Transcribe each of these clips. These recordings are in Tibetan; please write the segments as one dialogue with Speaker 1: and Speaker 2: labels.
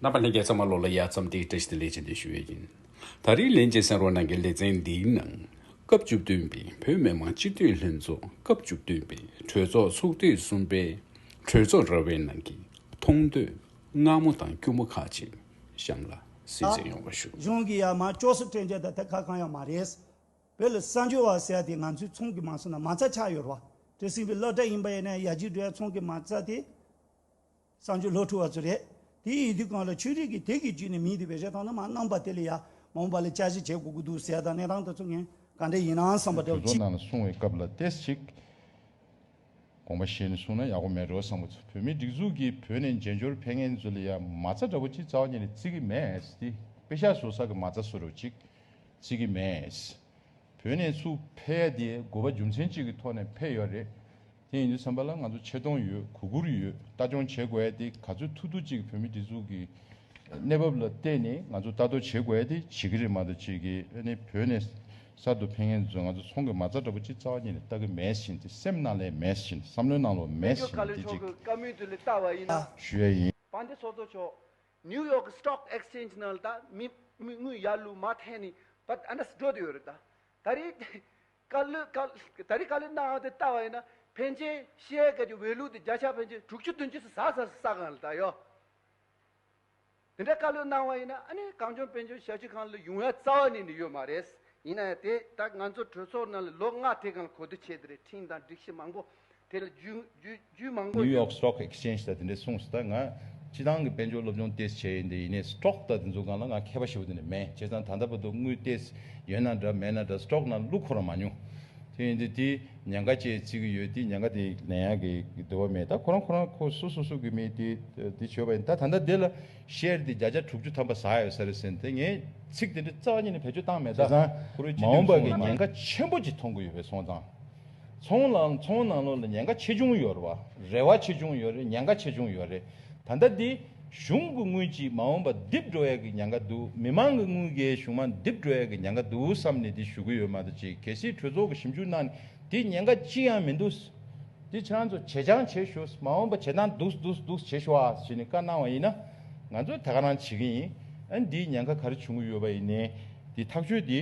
Speaker 1: རྣམ་པ་ལྷན་རྒྱས་ཚང་མ་ལོ་ལ་ཡར་ཙམ་སྟེ་བཀྲ་ཤིས་དང་ལེགས་བྱས་འདེབས་ཞུ་ཡས་ཡིན། ད་རིང་ལན་ཅིག་སེང་རོག་ནང་གི་ལེ་ཚན་འདིའི་ནང། སྐབས་བཅུ་བདུན་པའི་བོད་མི་མང་སྤྱི་འཐུས་ལྷན་ཚོགས་སྐབས་བཅུ་བདུན་པའི་གྲོས་ཚོགས་ཚོགས་དུས་གསུམ་པའི་གྲོས་ཚོགས་ར་བའི་ནང་གི་མཐོང་ཐོས་སྔ་མོ་དང་སྐྱུར་མོ་ཁག་ཅིག་གཤམ་ལ་གསལ་བརྗོད་ཡོང་བ་ཞུ། གཞུང་གི་ཡར་མར་
Speaker 2: ཅོག་སུ་སྤྲད་འཇལ་ད་ཐེ་ཁ་གང་ཡང་མ་རེད། བོད་ལ་གསར་འབྱོར་བ་ཟེར་དེ་ང་ཚོའི་ཚོང་གི་མང་ས་ན་མ་རྩ་ཆགས་ཡོད་ར་བ། བྲེལ་ཟིང་བའི་གླག་སྒྲ་ཡིན་པ་ཡིན་ན་ཡ་གཅིག་འགྲོའི་ཚོང་གི་མང་ས་དེ། བསང་ཆུ་ལྷོ་འཕྲུལ་བ་ཚོ་རེད། དེ་ཡི་དུས་གང་ལ་ཆོས་རིག་གི་དེག་གི་རྒྱུད་ནས་མིའི་དུས་པའི་རེ་ཐང་ནི་མ་གནང་པ་དེ་ལས་ཡང་མ་འོངས་པ་ལ་དཔྱད་གཞི་བྱེད་དགོས་ཀྱི་འདུག་ཟས་དང་གནས་དང་དུས་ཚོད་ངན་ག་འདྲ་ཡིན་ནའང་བསམ་པ་འདྲ་བོ་ཅི། གསུང་བའི་སྐབས་ལ་
Speaker 3: ལྟས་ཤིག། དགོངས་པ་བཞེས་ནས་གསུང་ན་ཡག་པོ་མེད་རོ་བསམ་པ་ཚོ་བོད་མིའི་སྒྲིག་འཛུགས་ཀྱི་བོད་ནས་མཇལ་འབྱོར་ཕེ་ངན་ཚོ་ལ་ཡང་མ་རྩ་འདྲ་བོ་ཅི་རྩ་བ་ཉིད་ནས་བརྩི་གི་མེད་དེ་དཔེ་ཤ་བཟོ་ས་གི་མ་རྩ་བཟོ་རོ་ཅིག་བརྩི་གི་མེད་བོད་ནས་ཚུགས་ཕེ་ཡ་དེ་དགོས་པ་རྒྱུ་མཚན་ཅིག་གི་ཐོག་ནས་ཕེ་ཡོད་རེད། དེ་ཡིན་དུས་བསམ་པ་ལ་ང་ཚོ་ཆེ་མཐོང་ཡོད་གུ་གུར་ཡོད་ལྟ་སྐྱོང་བྱེད་དགོས་ཡ་དེ་ག་ཚོད་ཐུ་ཐུ་ཅིག་བོད་མི་འདི་ཚུགས་ཀྱི་གནས་བབ་ལ་བལྟས་ནས་ང་ཚོ་ལྟ་རྟོག་བྱེད་དགོས་ཡ་དེ་བྱེད་ཀྱི་རེད་མ་ཏོ་བྱེད་ཀྱི་ཨ་ནི་བོད་ནས་གསར་དུ་ཕེ་ངན་འཛོལ་ང་ཚོ་ཚོང་གི་མ་རྩ་འདྲ་པོ་ཅིག་རྩ་བ་ཉིད་ལས་ལྟ་གི་མེད་བཞིན་དེ་སེམས་ནང་ལས་མེད་བཞིན་བསམ་བློའི་ནང་ལོག་མེད་བཞིན་དེ་གཅིག།
Speaker 4: ཞུ་ཡ་ཡིན། བ་
Speaker 3: འདི་སོ་སོ་
Speaker 4: ཆོག New York Stock Exchange ནང་ལ་ད་མི་དངུལ་ཡར་ལུ་མ་ཐེན་ནི་བ་ཨ་འདྲ་སི་འགྲོ་དུ་ཡོད་རེད་ད་ད་རེད། བཀའ་བློན། ད་རེས་བཀའ་བློན་གནང་བ་དེ་ལྟ་བ་ཡིན་ན་ཕན་ཆད་ཤེས་ཡའི་སྐད་ཀྱི་འོས་བླུགས་དེ་བརྒྱ་ཆ་ཕན་ཆད་དྲུག་ཅུ་བདུན་ཅུ་སུ་ཟག་ཟག་སུ་ཟག་གང་ལ་ད་ཡོད། དེ་འདྲ་བཀའ་བློན་གནང་བ་ཡིན་ན་ཨ་ནི་གངས་ལྗོངས་བན་ཆོས་ཞབས་ཕྱི་ཁང་ལ་ཡུང་ཡ་རྩ་བ་ནས་ནི་ཡོད་མ་རེད། ཡིན་ན་ཡང་དེ་ད་ང་ཚོ་གྲོས་ཚོགས་ནང་ལ་ལོ་ལྔ་དེ་གང་ལ་གོ་བསྡུར་བྱས་དེ་རེད་འཕྲིན་དང་སྒྲིག་གཞི་མང་པོ་དེ་ལ་རྒྱུས་མང་པོ་ཡོད། New York Stock Exchange
Speaker 3: དང་དེ་འདྲས་གསུངས་སོ་ད་ང་སྤྱི་བཏང་གི་དཔལ་འབྱོར་སློབ་སྦྱོང་ཏེས་བྱས་ཡིན་དེ་ཡིན་ནས Stock དང་དེ་ཚོ་གང་ལ་ང་མཁས་པ་ཞེས་པོ་དེ་འདྲས་མེད་བྱས་ཙང་ད་ལྟ་བར་དུ་དངུལ་ཏེས་ཡོད་ན་འདྲ་མེད་ན་འདྲ Stock ནང་བླུགས་ཁོ་རང་མ་མྱོང་དེ་ཡིན་དེ་དེ་ཉེན་ཁ་བཅས་བརྩི་གི་ཡོད་དེ་ཉེན་ཁ་དེ་ལན་ཡག་གི་དེ་བ་མེད་ད་ཁོ་རང་ཁོ་རང་ཁོ་སོ་སོ་སོ་གི་མི་དེ་དེ་བྱོས་པ་ཡིན་ད་ད་ལྟ་དེ་ལ Share དེ་བརྒྱ་ཆ་དྲུག་ཅུ་ཐམ་པ་ཟག་ཡོད་ས་རེད་ཟེར་ནས་དེ་ངས་ཚིག་དེ་འདྲས་རྩ་བ་ཉིད་ནས་བེད་སྤྱོད་བཏང་མེད་ད་བྱས་ཙང་མ་འོངས་པ་གི་ཉེན་ཁ་ཆེན་པོ་ཅིག་མཐོང་གི་ཡོད་པས་སོང་ཙང་ཚོང་ལ་ཚོང་ནང་ལོག་ལ་ཉེན་ཁ་ཆེ་ཆུང་ཡོད་རེད། རེ་བ་ཆེ་ཆུང་ཡོད་རེད་ཉེན་ཁ་ཆེ་ཆུང་ཡོད་རེད། ད་ལྟ་འདི་གཞུང་གི་དངུལ་གྱིས་མ་འོངས་པ་རྡིབ་འགྲོ་ཡག་གི་ཉེན་ཁ་འདུག་མི་དམངས་ཀྱི་དངུལ་གྱིས་གཞུང་མ་རྡིབ་འགྲོ་ཡག་གི་ཉེན་ཁ་འདུག་བསམ་ནས་འདི་ཞུ་གི་ཡོད་མ་གཏོགས་ཅི་གལ་སྲིད་གྲོས་ཚོགས་ཀྱི་ཞིབ་འཇུག་གནང་ནས་འདི་ཉེན་ཁ་ཅི་ཡང་མི་འདུག། འདི་ཁྱེད་རང་ཚོ་བྱེད་སྦྱང་བྱེད་ཞུ། མ་འོངས་པ་བྱེད་སྟངས་འདུག་འདུག་འདུག་བྱེད་ཞུ་ཨ་ཞེས་ནས་བཀའ་གནང་བ་ཡིན་ན། ང་ཚོས་དེ་ག་རང་བྱེད་ཀྱི་ཡིན། འདིའི་ཉེན་ཁ་ག་རེ་བྱུང་གི་ཡོད་པ་ཡིན་ནའི་འདི་ཐག་གཅོད་འདི།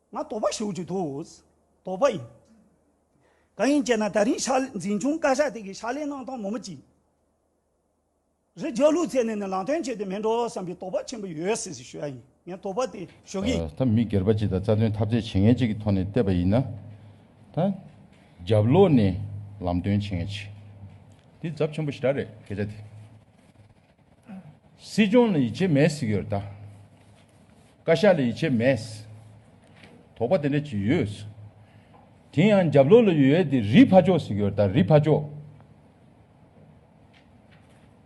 Speaker 2: ང་དོག་པ་ཞུགས་ཀྱི་འདུག། དོག་པ་ཡིན། གང་ཡིན་ཅེ་ན་ད་རིང་ཤག་ལས་འཛིན་སྐྱོང་བཀའ་ཤག་དེ་གའི་ཤག་ལས་གནང་སྟངས་མོ་མི་གཅིག་རེད་རྒྱ་ལུགས་ཚད་ནས་ནི་ལམ་སྟོན་བྱས་ཏེ་མི་འགྲོ་བསམ་པའི་དོག་པ་ཆེན་པོ་ཡོད་སྲིད་ཟེར་ཞུ་ཡ་ཡིན་ངས་དོག་པ་དེ་ཞུ་གི། ད་མི་སྒེར་པ་གཅིག་དང་རྩ་
Speaker 3: དོན་ཐབས་རྩལ་བྱེད་མཁན་གཅིག་གི་ཐོག་ནས་བལྟས་པ་ཡིན་ན། ད་རྒྱབ་ལོག་ནས་ལམ་སྟོན་བྱེད་མཁན་གཅིག་དེ་རྫབ་ཆེན་པོ་ཞེ་དྲག་རེད་སྐད་ཆ་དེ། སྲིད་སྐྱོང་ལ་ཡིད་ཆེས་མེད་ཟེར་གྱི་ཡོད་ད། བཀའ་ཤག་ལ་ཡིད་ཆེས་མེད། དོགས་པ་དེ་འདྲ་བྱེད་ཡོད། དེ་ཡང་རྒྱབ་ལོགས་ལ་ཡོད་དེ་རིའི་ཕ་ཅོག་ཟེར་གྱི་ཡོད་ད་རིའི་ཕ་ཅོག།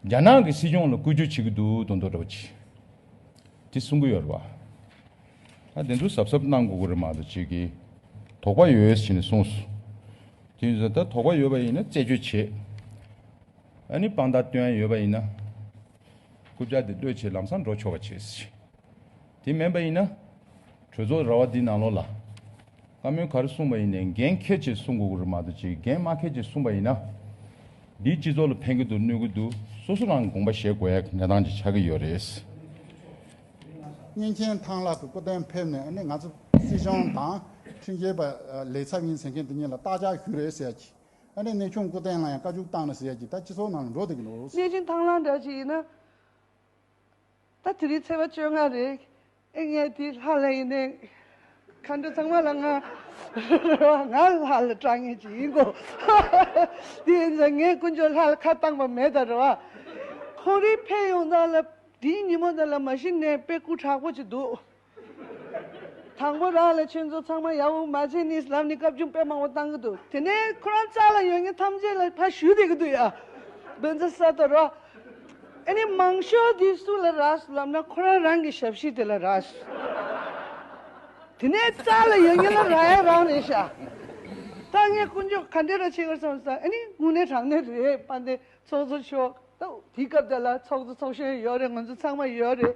Speaker 3: རྒྱ་ནག་གི་སྲིད་སྐྱོང་ལ་བཀོད་བྱུས་བྱེད་ཀྱི་འདུག་དོན་དོགས་འདྲ་པོ་བྱེད། དེ་གསུང་གི་ཡོད་རེད་བ། ད་དེ་ཚོ་གཟབ་གཟབ་གནང་དགོས་ཀྱི་རེད་མ་གཏོགས་བྱེད་ཀྱི་དོགས་པ་ཡོད་ཟེར་ནས་གསུངས་སོ། དེ་ཡིན་ཟེར་ན་ད་དོགས་པ་ཡོད་པ་ཡིན་ན་རྩད་གཅོད་བྱེད། ཨ་ནི་དཔང་རྟགས་བཏོན་ཡོད་པ་ཡིན་ན། རྐུབ་བཀྱག་དེ་ལྟོས་བྱེད་ལམ་སང་འགྲོ་ཆོག་པ་བྱེད་སྲིད། དེ་མིན་པ་ཡིན་ན། གྲོས་ཚོགས་ར་བ་འདི་ནང་ལོགས་ལ། བཀའ་མོལ་ག་རེ་གསུངས་པ་ཡིན་ནས་འགན་ཁྱེད་ཀྱིས་གསུངས་དགོས་གི་རེད་མ་གཏོགས་ཅི་འགན་མ་ཁྱེད་ཀྱིས་གསུངས་པ་ཡིན་ན། འདིས་སྤྱི་ཚོགས་ལ་ཕན་གི་འདུག་གནོད་གི་འདུག་སོ་སོ་རང་དགོངས་པ་བཞེས་དགོས་ཡག་གནས་སྟངས་ཅིག་ཆགས་གི་ཡོད་རེད། བསྙེན་མཁྱེན་ཐང་ལགས་སུ་སྐུ་དོན་ཕེབས་ནས་ཨ་ནི་ང་ཚོ་སྲིད་
Speaker 5: གཞུང་དང་ཁྲིམས་རྒྱལ་པ་ལས་ཚབ་ཡིན་ཟེར་མཁན་དེ་གཉིས་ལ་རྟགས་ཆགས་ཞུ་རེ་ཟེར་གྱི་ཨ་ནེ་གནས་ཆུང་སྐུ་བསྟན་ལ་ཡང་བཀའ་བཅུ་བཏང་ན་ཟེར་གྱི་ད་སྤྱི་ཚོགས་ནང་ལ་འགྲོ་བསྡད་ཀྱི་འདུག། གནས་ཆུང་ཐང་ལག་འདྲ་ཞིག་ཡིན་ན། ད་དེ་རིང་ཚེས་པ་བཅོ་ལྔ་རེད། ཨེ་ངའི་དེའི་ལྷ་ལྷ་ཡིན་ནའི།
Speaker 6: མཁའ་འགྲོ་ཚང་མ་ལ་ང། ང་ལྷ་ལ་སྐྲག་ངེས་ཅིག་ཡིན་གོ། དེ་ཡིན་ཙང་ངས་དཀོན་མཆོག་ལྷ་ལ་ཁ་བཏང་པ་མེད་ད་རེད་བ། ཁོང་རིགས་ཕེབས་ཡོང་ཙང་ལ་དེའི་ཉིན་མོ་དེ་ལ་མ་གཞི་ནས་དཔེ་སྐུ་དྲག་པོ་ཅིག་འདུག་དང་པོ་རང་ལས་ཆོས་ཚོགས་ཚང་མ་ཡབ་འོག་མ་ཚེ་གཉིས་ལམ་ནས་བཀའ་བཀྱོན་དཔེ་མང་བོ་གཏང་གི་འདུག་དེ་ནས་ཁོ་རང་ཅག་ལ་ཡོད་ངེས་ཐམས་ཅད་ལ་ཕ་ཞུ་བསྡད་ཀྱི་འདུག་ཡ། འདོན་རྩ་གསར་གཏོད་རོགས། ཨེ་ནས་མང་ཤོས་འདི་སུ་ལ་རགས་སུ་ལབ་ན་ཁོ་རང་རང་གི་ཞབས་ཕྱི་དེ་ལ་རགས། དེ་ནས་ཅག་ལ་ཡོད་ངེས་ལ་རགས་ཡ་རང་རེད་ཤག། ད་ངས་དཀོན་མཆོག་ག་འདྲས་ར་བྱེད་དགོས་སམ་ཟ་ཨེ་ནས་དངོས་གནས་དྲང་གནས་རེད་པ་འདི་ཚོགས་གཙོ་མཆོག་ད་དེའི་སྐབས་དེ་ལ་ཚོགས་གཙོ་ཚོགས་གཞོན་ཡོད་རེད་ང་ཚོ་ཚང་མ་ཡོད་རེད།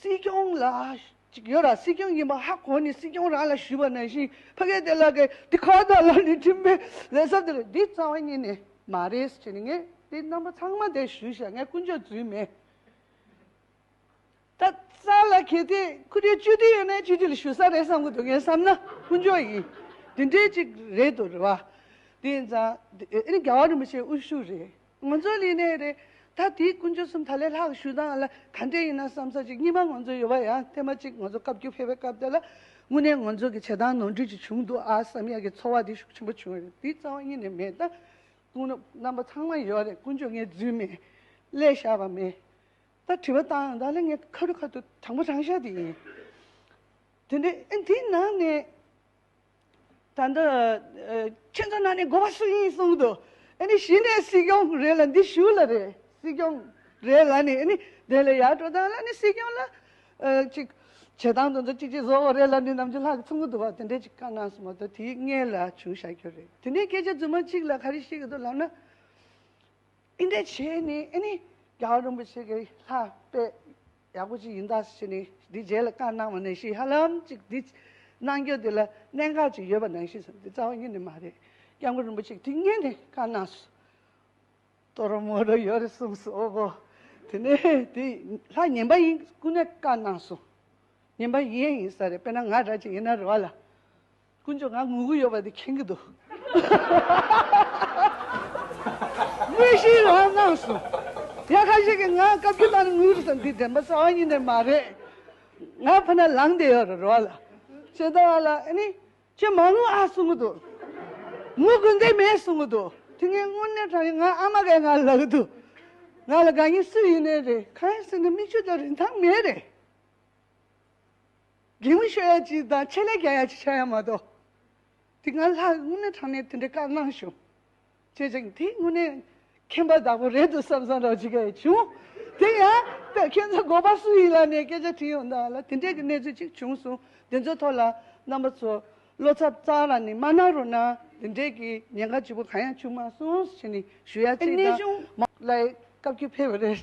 Speaker 6: སྲིད་སྐྱོང་ལ། ཅིག་ཡོད་ར་སྲིད་སྐྱོང་ཡིན་པ་ཧ་གོ་ནི་སྲིད་སྐྱོང་རང་ལ་ཞུས་པ་ནང་བཞིན་ཕ་གེ་དེ་ལ་གེ་དེ་ཁ་བརྡ་ལ་ནི་འཕྲིན་པའི་ལས་ཟབ་དེ་རེད་འདི་རྩ་བ་ཉིད་ནས་མ་རེད་ཅེས་ནི་ངས་དེ་རྣམ་པ་ཚང་མ་དེ་ཞུས་ཤག་ངས་ཀུན་སྤྱོད་རྫུན་མེད་ད་རྩ་ལ་གེ་དེ་ཁུ་དེ་བཅུ་དེ་ཡོད་ན་བཅུ་དེ་ལ་ཞུ་ས་རེད་བསམ་གི་འདུག་ངས་བསམ་ན་ཀུན་སྤྱོད་ཡིན་དེ་འདྲས་ཅིག་རེད་དོ་རེད་བ། དེ་ཡིན་ཙང་དེ་ཨེ་ནི་རྒྱ་བ་རིན་པོ་ཆེ་དབུ་བཞུགས་རེད། ངོ་ཚོ་ལེན་ནའི་རེད། ད་དེའི་དཀོན་མཆོག་གསུམ་ད་ལས་ལྷག་ཞུ་སྟངས་ལ་ག་འདྲས་ཡིན་ན་བསམ་ས་ཅིག་གཉིས་པ་ངོ་ཚོ་ཡོད་པ་ཡང་བསྟན་པ་གཅིག་ངོ་ཚོ་བཀའ་བརྒྱུད་ཕེབས་པའི་སྐབས་དེ་ལ་དངོས་གནས་ངོ་ཚོ་གི་བྱེད་སྟངས་ནོར་འཁྲུལ་ཅིག་བྱུང་འདུག་ཨ་བསམ་ཡག་གི་ཚོར་བ་དེ་ཤུགས་ཆེན་པོ་བྱུང་བ་རེད་དེའི་རྩ་བ་གཉིས་ནས་མེད་ད་དུང་རྣམ་པ་ཚང་མ་ཡོད་རེད་དཀོན་མཆོག་ངའི་རྫུན་མེད། སླད་བཞག་པ་མེད། ད་དྲི་བ་བཏང་ཡང་ད་ལས་ངའི་ཁ་རུ་ཁ་ཐུག་དྲང་པོ་དྲང་བཞག་དེ་ཡིན། དེ་འདྲའི་ཨེ་འདིའི་ནང་ནས། ད་འདི་ཁྱེད་ཚོ་ནང་ནས་དགོ་བ་སུ་ཡིན་གསུངས་འདུག་ཨ་ནི་གཞི་ནས་སྲིད་སྐྱོང་རེད་ལ་འདི་ཞུ་ལ་རེད་སྲིད་སྐྱོང་རེད་ལ་ནི་ཨ་ནི་དེ་ལ་ཡར་འགྲོ་དང་ལ་ནི་སྲིད་སྐྱོང་ལ་ཅིག་བྱེད་དང་དོན་དུ་ཅིག་ཅིག་བཟོ་བ་རེད་ལ་ནི་ནམ་རྒྱུན་ལྷག་གི་ཚུགས་ཀྱི་འདུག་བ་དེ་འདྲས་ཅིག་བཀའ་གནང་སོང་བ་དང་དེའི་སྔས་ལ་བྱུང་བཞག་རྒྱུ་རེད་དེ་ནས་སྐད་ཆ་རྫུན་མ་གཅིག་ལ་ག་རེ་བཤད་ཀྱི་འདུག་ལབ་ན་ཨི་འདྲས་བྱས་ནས་ཨ་ནི་རྒྱ་གར་རིན་པོ་ཆེ་གི་ལྷ་དཔེ། ཡག་པོ་ཅིག་ཡིན་ད་ཕྱི་ནས་འདི་རྗེས་ལ་བཀའ་གནང་བ་ནང་བཞིན་ཧ་ལམ་ཅིག་འདི་གནང་རྒྱུ་འདི་ལ་གནད་འགག་ཅིག་ཡོད་པ་ནང་བཞིན་སོང་འདི་རྩ་བ་ཉིད་ནས་མ་རེད་སྐྱབས་མགོན་རིན་པོ་ཆེས་དེ་སྙེད་ནས་བཀའ་གནང་སོ། ཏོ་རོ་མོ་རོ་ཡོད་རེད་གསུངས་སོ། དེ་ནས་དེ་ལྷ་ངན་པ་ཡིན་སྐུ་ནས་བཀའ་གནང་སོང་ངན་པ་ཡིན་ཡིན་ས་རེད་དཔེར་ན་ང་འདྲ་ཅིག་ཡིན་ན་རེ་བ་ལ། དཀོན་མཆོག་ང་ངུ་གི་ཡོད་པ་དེ་མཁྱེན་གི་འདུག། ངུས་ཤིང་རང་སྣང་སོང། ཡང་ཁ་ཤས་ཀྱིས་ང་བཀའ་བརྒྱུད་གནང་ནས་ངུས་སོང་འདི་དྲན་པ་གསར་བ་ཉིད་ནས་མ་རེད། ང་ཕ་ན་ལངས་བསྡད་ཡོད་རེད་རེ་བ་ལ། ཇི་ལྟ་བ་ལ་ཨ་ནི། ཁྱོད་མ་ངུ་ཨ་གསུང་གི་འདུག། ངུ་དགོས་འདོད་མེད་གསུང་གི་འདུག་དེ་ངས་དངོས་གནས་དྲན་ཡོད་ང་ཨ་མ་གས་ང་ལ་གི་འདུག། ང་ལ་དགའ་ཉེ་སུ་ཡིན་ནའི་རེད་ཁ་ཡང་སེམས་ནས་མིག་ཆུ་དང་རིན་ཐང་མེད་རེད། རྒན་མོ་ཤོ་ཡ་གཅིག་དང་ཆེད་ལས་རྒྱ་ཡ་གཅིག་ཆགས་ཡ་མ་གཏོགས། དེ་སྔ་ལྷ་དངོས་གནས་དྲང་གནས་དེ་འདྲའི་བཀའ་གནང་བྱུང། བྱས་ཀྱང་དེ་དངོས་གནས་མཁན་པ་བདག་པོ་རེད་འདུག་བསམ་བསམ་རང་བྱེད་ཀ་ཡི་བྱུང། དེ་ཡང་ད་ཁྱེད་ཚོ་འགོ་པ་སུ་ཡིན་ལ་ནས་སྐད་ཆ་དྲིས་ཡོང་དང་ལ་དེ་འདྲས་ཀྱི་གནས་ཚུལ་གཅིག་བྱུང་སོང་དེ་ཚོའི་ཐོག་ལ་རྣམ་པ་ཚོ་བློ་འཚབ་གཙང་ར་ནས་མ་གནང་རོགས་གནང་དེ་འདྲས་ཀྱི་ཉེན་ཁ་ལྕི་པོ་གང་ཡང་བྱུང་མ་སོང་ཞེས་ནས་ཞུ་ཡ་གཅིག་དང། ལའི་སྐབས་ཀྱི་ཕེབས་རེད།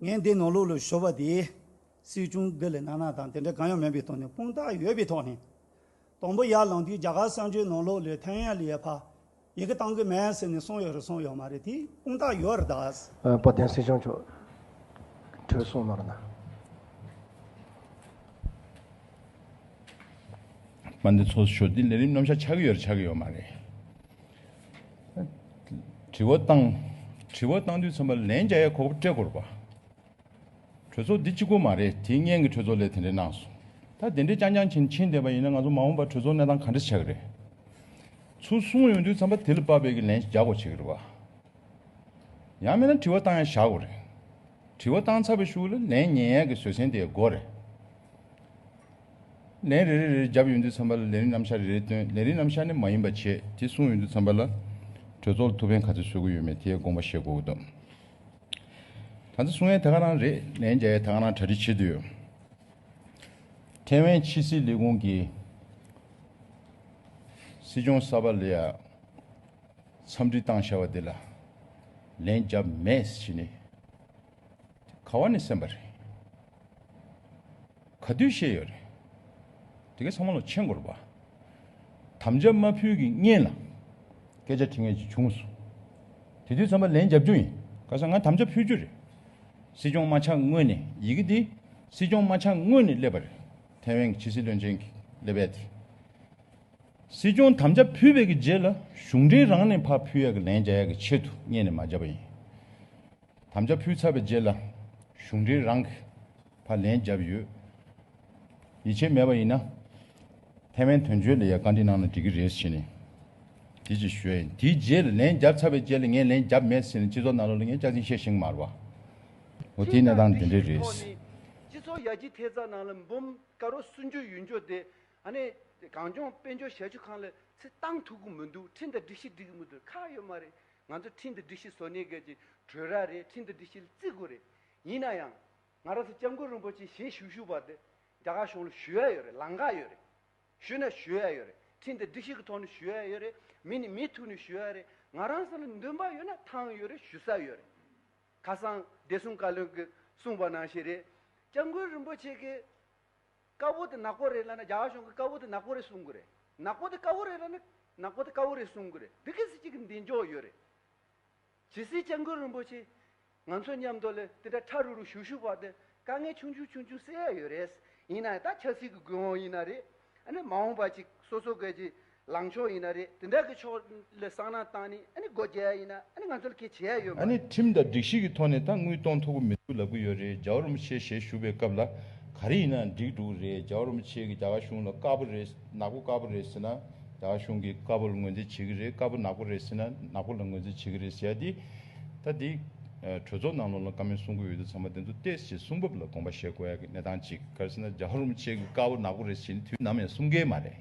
Speaker 2: ངས་འདི་ནང་ལོགས་ལོས་ཤོར་བ་དེ། སྲིད་སྐྱོང་འདི་ལས་ནག་ནག་དང་དེ་འདྲ་གང་ཡང་མིན་པའི་ཐོག་ནས་དཔང་རྟགས་ཡོད་པའི་ཐོག་ནས། དང་པོ་ཡར་ལངས་དུས་རྒྱ་གར་གསར་འབྱོར་ནང་ལོགས་ལོས་ཐན་ཡ་ལི་ཡ་ཕ། ཡི་གེ་བཏང་གི་མེད་ཟེར་ནས་སོང་ཡོད་རེད་སོང་ཡོད་མ་རེད་དེ་དཔང་རྟགས་ཡོད་རེད་ད། བོད་བསྟན་སྲིད་སྐྱོང་མཆོག་
Speaker 7: གྲོས་གསུངས་ནོར་ན།
Speaker 3: པ་འདི་ཚོགས་སུ་ཞོག་འདི་ལས་རིམ་རྣམ་གཞག་ཆགས་ཀྱི་ཡོད་རེད་ཆགས་ཀྱི་ཡོད་མ་རེད། དྲི་བ་བཏང། དྲི་བ་བཏང་དུས་ཚང་མ་ལན་བརྒྱ་ཡས་ཁོག་པ་སྤྲད་དགོས་རེད་པ། གྲོས་ཚོགས་འདི་སྤྱི་སྒོ་མ་རེད་དེ་སྙན་གི་གྲོས་ཚོགས་ལས་དེ་འདྲས་གནང་སོང། ད་དེ་འདྲས་རྐྱང་རྐྱང་བྱིན་ཕྱིན་བསྡད་པ་ཡིན་ན་ང་ཚོ་མ་འོངས་པར་གྲོས་ཚོགས་གནས་སྟངས་ག་འདྲས་བྱ་གི་རེད། ཚུར་གསུངས་ཡོང་དུས་ཚང་མ་དེ་ལ་དཔག་པའི་གི་ལན་རྒྱག་དགོས་བྱེད་གི་རེད་པ། ཡང་མེད་ན་དྲི་བ་བཏང་ཡས་བཞག་དགོས་རེད། དྲི་བ་བཏང་ཚར་བའི་ཤུགས་ལ་ལན་ཉན་ཡས་གི་བཟོད་སྲན་དེ་ཡས་དགོས་རེད། ལན་རེ་རེ་རེར་རྒྱབ་ཡོད་འདུག་ཚན་པ་ལ་ལན་རིན་རྣམ་གཞག་རེ་རེ་བཏོན་ལན་རིན་རྣམ་གཞག་ནི་མ་ཡིན་པ་བྱས་དེ་གསུངས་ཡོད་འདུག་ཚན་པ་ལ་གྲོས་ཚོགས་ལ་ཐུགས་ཕན་ག་ཚོད་བཟོས་དགོས་ཡོད་མེད་དེའི་དགོངས་པ་བཞེས་དགོས་འདུག་ད་ཚེ་གསུང་ཡས་ད་ག་རང་རེད་ལན་རྒྱ་ཡས་ད་ག་རང་གྲ་སྒྲིག་བྱེད་འདོད་ཡོད། ཐེ་ཝན་ཕྱི་སྲིད་ལས་ཁུངས་ཀྱི་སྲིད་སྐྱོང་གསར་པ་ལ་ཡང་འཚམས་འདྲི་བཏང་བཞག་པ་འདི་ལ་ལན་རྒྱབ་མེད་ཟེར་གྱི་ནི། ག་བ་ནས་སེམས་པ་རེད། ག་དུས་ཤེས་ཡོད་རེད། དེ་གའི་ཚང་མ་ལོ་ཆེན་དགོས་རེད་བ། དམ་བཅའ་མ་ཕུལ་གི་བརྙན་ལ་སྐད་ཆ་དྲི་ངེས་ཅིག་བྱུང་སོང། དེ་དུས་ཚང་མ་ལན་རྒྱབ་རྒྱུ་ཡིན། ག་ས་ང་དམ་བཅའ་ཕུལ་རྒྱུ་རེད། སྲིད་སྐྱོང་རྨ་བྱ་དངོས་ནས་ཡི་གེ་འདི་སྲིད་སྐྱོང་རྨ་བྱ་དངོས་ནས་སླེབས་པ་རེད། ཐའེ་ཝན་གྱི་ཕྱི་སྲིད་བློན་ཆེན་གྱི་ལས་བལ་དེ། སྲིད་སྐྱོང་དམ་བཅའ་ཕུལ་བའི་གི་རྗེས་ལ་གཞུང་འབྲེལ་རང་ནས་ཕར་ཕུལ་ཡག་གི་ལན་རྒྱ་ཡག་གི་ཆེད་དུ་བརྙན་ནས་མ་བརྒྱབ་པ་ཡིན། དམ་བཅའ་ཕུལ་ཚར་བའི་རྗེས་ལ་གཞུང་འབྲེལ་རང་གི་བར་ལན་བརྒྱབ་ཡོད། ཡིད་ཆེས་མེད་པ་ཡིན་ན་ཐེ་ཝན་དོན་གཅོད་ལ་ཡང་བཀའ་འདྲི་གནང་ན་འགྲིག་གི་རེད་ཟེར་ནས་དེ་ཅིག་ཞུས། དེའི་རྗེས་ལ་ལན་བརྒྱབ་ཚར་བའི་རྗེས་ལ་ངས་ལན་བརྒྱབ་མེད་ཟེར་ནས་སྤྱི་ཚོགས་ནང་ལོག་ལ་ངས་སྐྱག་རྫུན་བཤད་ཤིང་མར་བ། འོ་དེའི་གནས་སྟངས་དེ་འདྲས་རེད། སྤྱི་ཚོགས་ཡར་
Speaker 4: རྒྱས་ཐེབས་རྩ་ནང་ལ་འབུམ་དཀར་བོ་གསུང་རྒྱུ་ཡོད་འགྱོ་དེ་ཨ་ནེ་གངས་ལྗོངས་དཔལ་འབྱོར་ཞལ་ཆུ་ཁང་ལ་ཚེ་བཏང་ཐུག་གི་མི་འདུག་ཁྲིན་དང་སྒྲིག་གཞི་སྒྲིག་གི་མི་འདུག་ཁག་ཡོད་མ་རེད་ང་ཚོས་ཁྲིན་ཏུ་སྒྲིག་གཞི་བཟོ་གནས་སྐད་ཀྱི་གྲོས་ར་རེད་ཁྲིན་ཏུ་སྒྲིག་གཞི་ལ་བརྩི་དགོས་རེད། ཡིན་ན་ཡང། ང་རང་ཚོ་སྐྱབས་མགོན་རིན་པོ་ཆེ་ཞལ་བཞུགས་ཞུ་བར་དུ། རྒྱ་གར་གཞུང་ལ་ཞུ་ཡ་ཡོད་རེད་ལང་ཀ་ཡོད་རེད། ཞུས་ན་ཞུ་ཡ་ཡོད་རེད་ཁྲིན་ཏུ་སྒྲིག་གཞི་གི་ཐོག་ནས་ཞུ་ཡ་ཡོད་རེད་མི་ནི་མི་ཐུག་ནས་ཞུ་ཡ་རེད་ང་རང་ཚོ་ལ་འདུན་པ་ཡོད་ན་ཐང་ཡོད་རེད་ཞུ་ས་ཡོད་རེད། ཁ་སང་བདེ་སྲུང་བཀའ་བློན་གྱིས་གསུངས་པ་ནང་བཞིན་རེད། སྐྱབས་མགོན་རིན་པོ་ཆེ་གིས། དཀར་པོ་དེ་ནག་པོ་རེད་ལ་ན་རྒྱ་གཞུང་གི་དཀར་པོ་དེ་ནག་པོ་རེད་གསུང་གི་རེད། ནག་པོ་དེ་དཀར་པོ་རེད་ལ་ན་ནག་པོ་དེ་དཀར་པོ་རེད་གསུང་གི་རེད། འདི་གི་སྲིད་སྤྱི་གི་མདེལ་འཇོག་ཡོད་རེད། ཇི་སྲིད་སྤྱན་དགོན་རིན་པོ་ཆེ་ང་ཚོ་མཉམ་དུ་ལས་དེ་འདྲ་ཁྲ་རུ་རུ་བཞུགས་བཞུགས་བར་དུ་དཀའ་ངལ་ཆུང་ཆུང་ཆུང་ཆུང་སེལ་ཡ་ཡོད་རེད། ཡིན་ནའི་ད་ཆབ་སྲིད་གི་དགོས་དབང་ཡིན་ན་རེད། ཨ་ནི་མ་འོངས་པ་ཅིག་སོ་སོ་སྐད་ཅིག་ལངས་ཕྱོགས་ཡིན་ན་རེད་དེ་འདྲ་གི་ཕྱོགས་ལ་བསམ་ན་ཏང་ནི་ཨ་ནི་སྒོ་རྒྱ་ཡིན་ན་ཨ་ནི་ང་ཚོ་ལ་ཁེ་བྱེད་ཡ་ཡོད་མ་ཨ་ནི་རེད། ཁྲིམས་དང་སྒྲིག་གཞི་
Speaker 3: གི་ཐོག་ནས་ད་དངུལ་གཏོང་ཐུབ་ཀི་མི་འདུག་ལབ་ཀི་ཡོད་རེད་ཇའོ་རུམ་ཆེ་ཞེས་ཞུ་བའི་སྐབས་ལ་ག་རེ་ཡིན་ནའང་འགྲིག་འགྲོ་གི་རེད་ཇའོ་རུམ་ཆེ་གི་རྒྱ་གར་གཞུང་ལ་དཀར་པོ་རེད་ནག་པོ་དཀར་པོ་རེད་ཟེར་ན་རྒྱ་གར་གཞུང་གིས་དཀར་པོ་ལ་ངོས་འཛིན་བྱེད་ཀི་རེད་དཀར་པོ་ནག་པོ་རེད་ཟེར་ན་ནག་པོ་ལ་ངོས་འཛིན་བྱེད་ཀི་རེད་ཟེར་ཡ་དེ་ད་དེ་གྲོས་ཚོགས་ནང་ལོགས་ལ་བཀའ་མོལ་གསུང་གི་འོས་བསྡུ་ཚང་མ་དེ་ཚོ་བལྟས་ཞེས་གསུང་བབ་ལ་དགོངས་པ་བཞེས་དགོས་ཡ་གི་གནས་སྟངས་གཅིག་ག་རེ་ཟེར་ན་ཇའོ་རུམ་ཆེ་གི་དཀར་པོ་ནག་པོ་རེད་ཟེར་ནི་དུས་ནམ་ཡང་གསུང་གི་མ་རེད།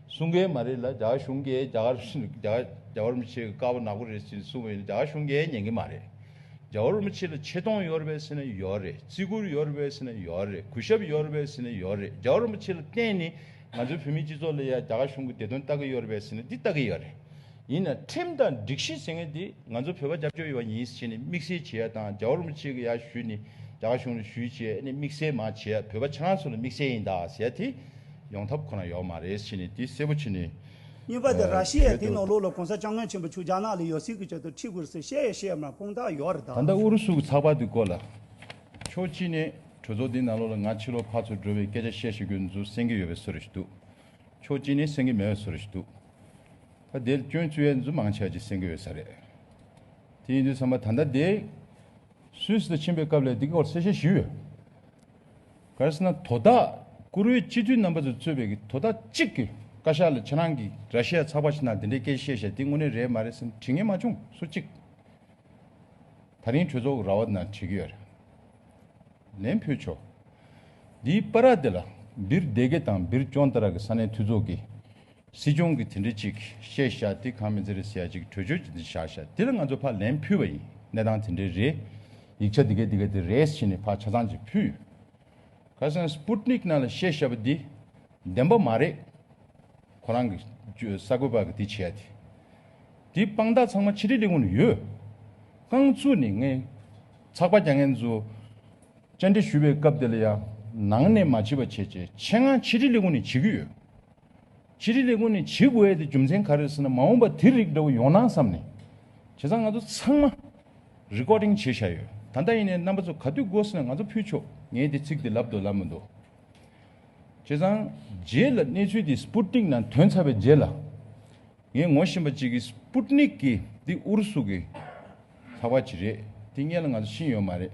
Speaker 3: གསུང་གི་མ་རེད་ལ་རྒྱ་གར་གཞུང་གིས་རྒྱ་གར་རྒྱ་བོར་མི་ཆེ་གི་དཀའ་བ་ནག་པོ་རེད་ཅེས་གསུང་བའི་རྒྱ་གར་གཞུང་གིས་ཉན་གི་མ་རེད། རྒྱ་བོར་མི་ཆེ་ལ་ཆེ་མཐོང་ཡོད་རེད་ཟེར་ན་ཡོད་རེད་བརྩི་བཀུར་ཡོད་རེད་ཟེར་ན་ཡོད་རེད་གུས་ཞབས་ཡོད་རེད་ཟེར་ན་ཡོད་རེད་རྒྱ་བོར་མི་ཆེ་ལ་བརྟེན་ནས་ང་ཚོའི་བོད་མིའི་སྤྱི་ཚོགས་ལ་ཡང་རྒྱ་གར་གཞུང་གིས་བདེ་དོན་ལྟ་གི་ཡོད་རེད་པས་ཟེར་ན་འདི་ལྟ་གི་ཡོད་རེད། ཡིན་ན་ཁྲིམས་དང་སྒྲིག་གཞི་ཟེར་མཁན་དེ་ང་ཚོ་བོད་པ་སྐྱབས་བཅོལ་ཡོང་བ་ཡིན་ཟེར་ནས་དམིགས་བསལ་བྱེད་ཡ་དང་རྒྱ་བོར་མོ་གཅིག་གི་ཡ་བཞུད་ནས་རྒྱ་གར་གཞུང་ལ་བཞུད་ཅེས་ཨ་ནེ་དམིགས་བསལ་མ་བྱེད་ཡ་བོད་པ་ཆ་ང་སུ་ལ་དམིགས་བསལ་ཡིན་ད་ཟེར་ཡ་དེ་ཡོང་ཐབས་ཁོ་ན་ཡོག་མ་རེད་ཟེར་ནས་དེ་གསལ་པོ་བྱེད་ནས་གཉིས་པ་དེ་ར་
Speaker 2: ཤི་ཡ་དེ་ནང་ལོགས་ལ་གོང་ས་སྐྱབས་མགོན་ཆེན་པོ་ཆུ་རྒྱ་ནག་ལ་ཡོད་སྲིད་ཀྱི་ཆེད་དུ་ཁྲིད་དགོས་ཟེར་བཤད་ཡ་བཤད་ཡ་མ་དཔུང་རྟགས་ཡོག་རེད་ད། ད་ལྟ་ཨུ་རུ་སུ་གི་ཚགས་པར་
Speaker 3: དེ་སྐོར་ལ་ཕྱོགས་གཅིག་ནས་གྲོས་ཚོགས་དེའི་ནང་ལོགས་ལ་ང་ཕྱི་ལོག་ཕར་ཚུར་འགྲོ་བའི་སྐད་ཆ་བཤད་ཤེས་དགོས་འདུག་སེང་གེ་ཡོད་པའི་བཟོ་རེ་ཞིག་འདུག་ཕྱོགས་གཅིག་ནས་སེང་གེ་མེད་པའི་བཟོ་རེ་ཞིག་འདུག། ད་དེར་སྐྱོན་བཅོས་ཡན་ཟུ་མང་ཆད་ཀྱི་སེང་གེ་ཡོད་ས་རེད། དེ་ཡིན་དུས་ཚང་མ་ད་ལྟ་དེ། སུད་སི་དུ་ཕྱིན་པའི་སྐབས་ལས་འདི་སྐོར་གསལ་བཤད་ཞུས་ཡོད། གལ་སྲིད་ན་དོ་བདག་བཀུར་འོས་སྤྱི་འཐུས་རྣམ་པ་ཚོས་གཙོས་པའི་དོ་བདག་གཅིག་གི་བཀའ་ཤག་ལ་ཁྱེད་རང་གི་ར་ཤི་ཡ་ཚགས་པར་ཞིག་ནང་དེ་འདྲའི་སྐད་བཤད་བཞག་འདི་དངོས་གནས་རེད་མ་རེད་བསམ་དྲི་ངས་མ་བྱུང་སུ་གཅིག་ད་རིང་གྲོས་ཚོགས་ཀྱི་ར་བ་ནང་བྲིས་གི་ཡོད་རེད། ལན་ཕུལ་ཆོག་འདིའི་པར་ར་དེ་ལ་སྦིར་སྡེ་དགེ་དང་སྦིར་སྐྱོང་ལྟ་ར་གི་ས་གནས་འཐུས་ཚོགས་ཀྱི། སྲིད་སྐྱོང་གིས་དེ་འདྲི་ཅིག་བཤད་བཞག་དེ་གང་མི་ཚེ་རེད་ཟེར་ཡ་ཅིག་བྲོས་བྱོལ་གྱིས་འདི་བཞག་བཞག་དེ་ལ་ང་ཚོ་ཕར་ལན་ཕུལ་བ་ཡིན་གནས་སྟངས་དེ་འདྲའི་རེད་ཡིག་ཆ་འདི་གས་འདི་གས་དེ་རེད་ཕྱིན་ནས་ཕར་ཆ་ཚང་ཅིག་ཕུལ། ཁ་སང Sputnik ནང་ལ་བཤད་བཞག་པ་འདི་བདེན་པ་མ་རེད། ཁོ་རང་གི་ས་གོས་པ་གི་དེ་བྱས་ཡ་དེ། དེ་དཔང་རྟགས་ཚང་མ་ཕྱི་དྲིལ་ལས་ཁུངས་ལ་ཡོད། རྐང་ཚུགས་ནས་ངས་ཚགས་པ་རྒྱ་ངན་ཚོ་བཅར་འདྲི་ཞུས་པའི་སྐབས་དེ་ལ་ཡང་ནང་ནས་མ་བྱིས་པ་བྱས་བྱས་ཆེད་ངང་ཕྱི་དྲིལ་ལས་ཁུངས་ནས་བྱེད་ཀྱི་ཡོད། སྤྱིར་རིགས་རེ་ཀུན་ནས་བྱེད་དགོས་ཡས་དེ་རྒྱུ་མཚན་ག་རེ་ཟེར་ན་མ་འོངས་པ་དེ་རིགས་འདྲ་བོ་ཡོང་ན་བསམ་ནས། བྱས་ཙང་ང་ཚོ་ཚང་མ Recording བྱེད་བཞག་ཡོད་ད་ལྟ་ཡིན་ནའི་རྣམ་པ་ཚོ་ག་དུས་དགོས་ཟེར་ན་ང་ཚོ་ཕུལ་ཆོག་ངས་དེ་ཚིག་དེ་ལབ་འདུག་ལབ་མི་འདུག་བྱས་ཙང་རྗེས་ལ་གནས་ཚུལ་དེ Sputnik ནང་དོན་ཚར་བའི་རྗེས་ལ་ངས་ངོ་ཤེས་པ་ཅིག་གིས Sputnik གི་འདི་ཨུ་རུ་སུ་གི་ལྷག་པ་ཅིག་རེད་དེ་བརྙན་ལ་ང་ཚོ་ཤེས་ཡོད་མ་རེད།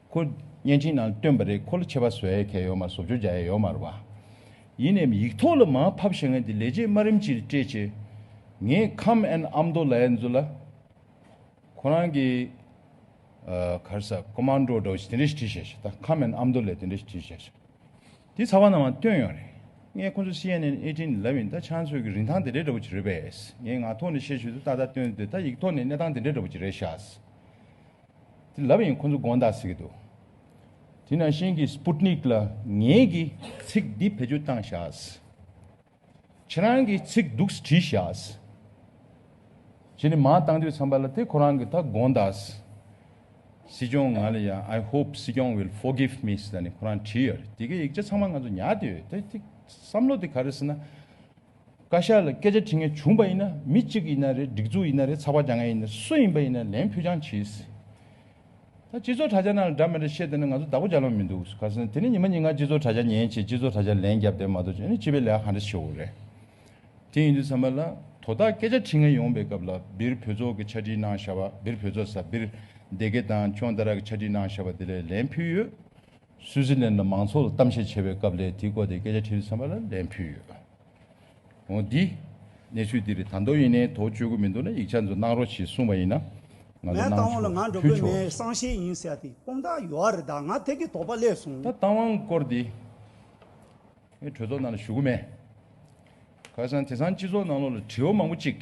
Speaker 3: ཁོ་བརྙན་འཕྲིན་ནང་བཏོན་པ་རེད་ཁོ་ལ་ཆད་པ་བཟོ་ཡས་ཁས་ཡོད་མ་བཟོ་བཅོ་བརྒྱ་ཡས་ཡོད་མ་རུ་བ། ཡིན་ནའི་ཡིག་ཐོག་ལ་མ་ཕབ་ཤེས་ངན་དེ་ལས་རྗེས་མ་རིམ་གྱིས་སྤྲད་ཆེད། ངས་ཁམས་ཨན་ཨམ་མདོ་ལའི་མཛོད་ལ། ཁོ་རང་གི། གར་ས་ཀོ་མཱན་ཀྲོ་འདྲ་བོ་ཞིག་དེ་འདྲ་ཞིག་བྲིས་བཞག་ཤེས་ད་ཁམས་ཨན་ཨམ་མདོ་ལས་དེ་འདྲ་ཞིག་བྲིས་བཞག་ཤེས། དེ་ཚ་བ་ནང་མ་བཏོན་ཡོང་རེད། ངས་ཁོ་ཚོ་སི་ཨན་ཨན་ཨེ་ཏྲིན་ལབ་ཡིན་ད་ཆ་ཚོད་ཀྱི་རིན་ཐང་དེ་འདྲའི་འདྲ་བོ་ཅིག་རེད་པས། ངས་ངག་ཐོག་ནས་བཤད་ཤུལ་དུ་ཏག་ཏག་བཏོན་ཏེ་ད་ཡིག་ཐོག་ནས་གནས་སྟངས་དེ་འདྲའི་འདྲ་བོ་ཅིག་རེད་ཤག། དེ་ལབ་ཡིན་ཁོ་ཚོ་དགོངས་དག་ཟེར་གྱི་འདུག་དེ་ནང་བཞིན་གྱི Sputnik ལ་ངེད་ཀྱི་ཚིག་འདི་བེད་སྤྱོད་བཏང་བཞགས། ཁྱེད་རང་གི་ཚིག་སྡུག་ས་བྲིས་བཞགས། ཁྱེད་ནས་མང་བཏང་དུས་ཚང་པ་ལ་དེ་ཁོ་རང་གི་ད་དགོངས་དག། སྲིད་སྐྱོང་ང་ལ་ཡང I hope སྲིད་སྐྱོང will forgive me ཟེར་ནས་ཁོ་རང་བྲིས་ཡོད་རེད་དེ་གའི་ཡིག་ཆ་ཚང་མ་ང་ཚོ་ཉར་དུས་ཡོད་དེ་བསམ་བློ་དེ་ག་རེ་ཟེར་ན། བཀའ་ཤག་ལ་སྐད་ཆ་དྲི་ངེས་བྱུང་པ་ཡིན་ན་མི་གཅིག་གི་ཡིན་ན་རེད་སྒྲིག་འཛུགས་ཡིན་ན་རེད་ཚགས་པར་བྱ་མཁན་ཡིན་ན་རེད་སུ་ཡིན་པ་ཡིན་ན་ལན་ཕུལ་རྐྱང་གྱིས་སི། ད་སྤྱི་ཚོགས་དྲ་བྱ་ནང་ལ་འདྲ་མི་འདྲ་བཤད་དེ་ནི་ང་ཚོ་བདག་པོ་བྱ་ལོང་མི་འདུག་ག་སོང་དེ་ནི་ཉི་མ་ཉིན་གང་སྤྱི་ཚོགས་དྲ་བྱ་ཉན་བྱེད་སྤྱི་ཚོགས་དྲ་བྱ་ལན་རྒྱབ་དེ་མ་གཏོགས་ཅི་ནི་སྤྱི་པའི་ལས་ཀ་ག་འདྲ་བྱེད་འོ་རེད། དེ་ཡིན་དུས་ཚང་མ་ལ་དོ་བདག་སྐད་ཆ་དྲི་ངེས་ཡོང་པའི་སྐབས་ལ་སྦིར་བོད་ཚོགས་ཀྱི་ཆ་དྲིས་གནང་བཞག་པ་སྦིར་བོད་ཚོགས་ས་སྦིར་སྡེ་དགེ་དང་ཁྱོང་ད་ར་གི་ཆ་དྲིས་གནང་བཞག་པ་དེ་ལས་ལན་ཕུལ་ཡོད། སུའུ་ཙི་ལན་ལ་མང་ཚོགས་ལ་གཏམ་བཤད་བྱེད་པའི་སྐབས་ལས་དེའི་སྐོར་དེ་སྐད་ཆ་ཁྲི་རེ་ཚན་པ་ལ་ལན་ཕུལ་ཡོད། འོང་འདི། གནས་ཚུལ་འདི་རེད་ད་མདོ་ཡིན་ནའི་དོགས་གཅོད་དགོས་མི་འདུག་ན་ཡིག་ཆ་འདི་གནང་རོགས་གྱིས་གསུངས་པ་ཡིན་ན་ང་ངའི་ཚོ་གནང་རྟའང་
Speaker 2: ལ་ང་འགྲོ་ཕུལ་གོས་མེད་ཆོག། སང་ཤེས་ཡིན་ཟེར་ཡ་དེ་དཔང་རྟགས་ཡོད་ཨ་རེད་ད་ང་ཐད་ཀའི་དོགས་པ་སླེབས་སོང། ད་རྟའང་སྐོར་འདི།
Speaker 3: ངའི་གྲོས་ཚོགས་ནང་ལ་ཞུ་གོ་མེད། ག་ས་ནས་དེ་སང་སྤྱི་ཚོགས་ནང་ལོག་ལ་དྲི་བ་མང་པོ་གཅིག།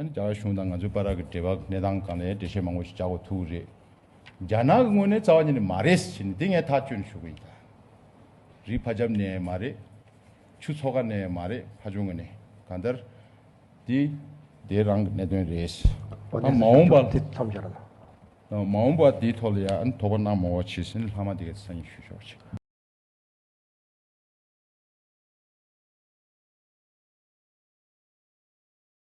Speaker 3: རྒྱ་གར་གཞུང་དང་ང་ཚོའི་དཔའ་ར་གི་འབྲེལ་བ་གནས་སྟངས་གང་ལས་འགྲེལ་བཤད་མང་པོ་ཞིག་རྒྱག་དགོས་ཐུག་གི་རེད། རྒྱ་ནག་གི་ངོས་ནས་རྩ་བ་ཉིད་ནས་མ་རེད་ཟེར་ནས་དེ་ངས་ཐག་གཅོད་ནས་ཞུ་གི་ཡིན། རིའི་ཕ་རྒྱབ་ནས་མ་རེད། ཆུ་ཚོགས་ཀ་ནས་མ་རེད་ཕ་ཆུང་གི་ནས་གང་ལྟར། དེ་དེ་རང་གི་གནད་དོན་རེད། ཨ་མ་འོངས་པ། ཨ་མ་འོངས་པ་དེའི་ཐོག་ལ་ཡང་དོགས་
Speaker 7: པ་གནང་
Speaker 3: མང་བ་བྱས་ཟིན་ལྷག་མ་དེ་ག་ཚོད་ས་ཡིན་ཞུ་ཆོག་ཅིག།